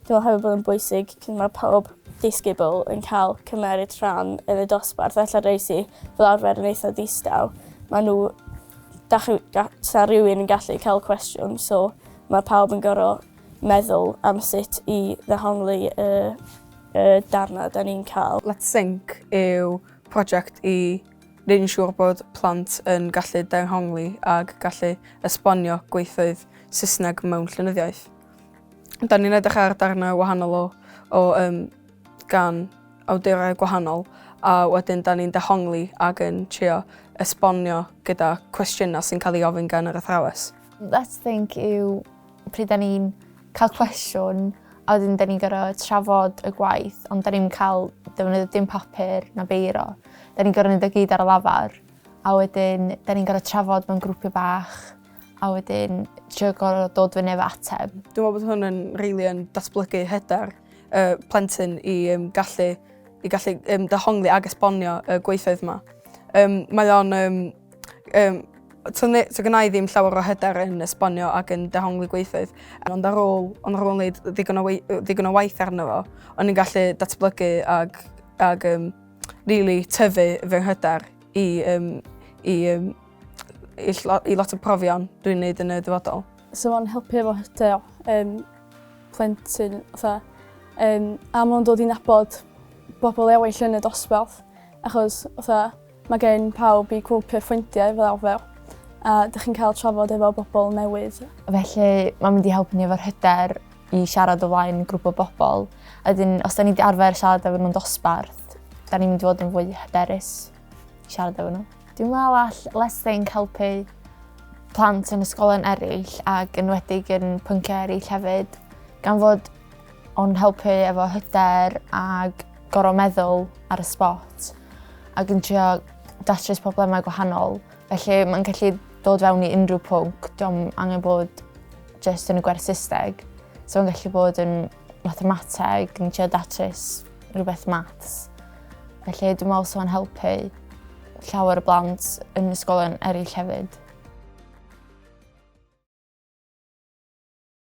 Dwi'n meddwl hefyd bod yn bwysig cyn mae pawb disgybl yn cael cymeryd rhan yn y dosbarth ella rei sy fel arfer yn eitha distaw ma' nhw da chi'n ga- 'sa rywun yn gallu cael cwestiwn so ma' pawb yn gor'o' meddwl am sut i ddehongli y y darna 'da ni'n ca'l. Let's Sink yw project i Rydyn ni'n siŵr bod plant yn gallu dehongli ac gallu esbonio gweithfeydd Saesneg mewn llenyddiaeth. Da ni'n edrych ar darnau wahanol o, o um, gan awdurau gwahanol a wedyn da ni'n dehongli ac yn trio esbonio gyda cwestiynau sy'n cael ei ofyn gan yr athrawes. Let's Think yw pryd da ni'n cael cwestiwn a wedyn da ni'n gorfod trafod y gwaith ond da ni'n cael defnyddio dim papur na beiro. Da ni'n gorfod neud o gyd ar y lafar a wedyn da ni'n gorfod trafod mewn grwpiau bach a wedyn trio gorfod dod fyny efo ateb. Dwi'n meddwl bod hwn yn really yn datblygu hyder y plentyn i um, gallu i gallu um, dehongli ag esbonio y gweithfeydd yma. Um, mae o'n um, Yym to ne- to gynna i ddim llawer o hyder yn esbonio ac yn dehongli gweithfeydd ond ar ôl ond ar ôl wneud ddigon o wei- yy ddigon o waith arno fo o'n i'n gallu datblygu ag ag yym rili tyfu fy nghyder i yym i yym i ll- i lot o profion dwi'n neud yn y dyfodol. Sa fo'n helpu efo hyder yym plentyn fatha yym a ma' o'n dod i nabod bobol ewyll yn y dosbarth achos fatha Mae gen pawb eu cwp eu ffrindiau fel arfer a dych chi'n cael trafod efo bobl newydd. Felly mae'n mynd i helpu ni efo'r hyder i siarad o flaen grŵp o bobl a wedyn os 'da ni 'di arfer siarad efo nhw'n dosbarth 'da ni'n mynd i fod yn fwy hyderus i siarad efo nhw. Dwi'n meddwl all Let's Think helpu plant yn ysgolion eraill ac yn enwedig yn pynciau eraill hefyd gan fod O'n helpu efo hyder ag gorau meddwl ar y spot ac yn trio datrys problemau gwahanol. Felly mae'n gallu dod fewn i unrhyw pwnc, diolch angen bod jyst yn y gwerth systeg. So mae'n gallu bod yn mathemateg, yn trio datrys rhywbeth maths. Felly dwi'n meddwl sy'n helpu llawer y blant yn ysgolion eraill hefyd.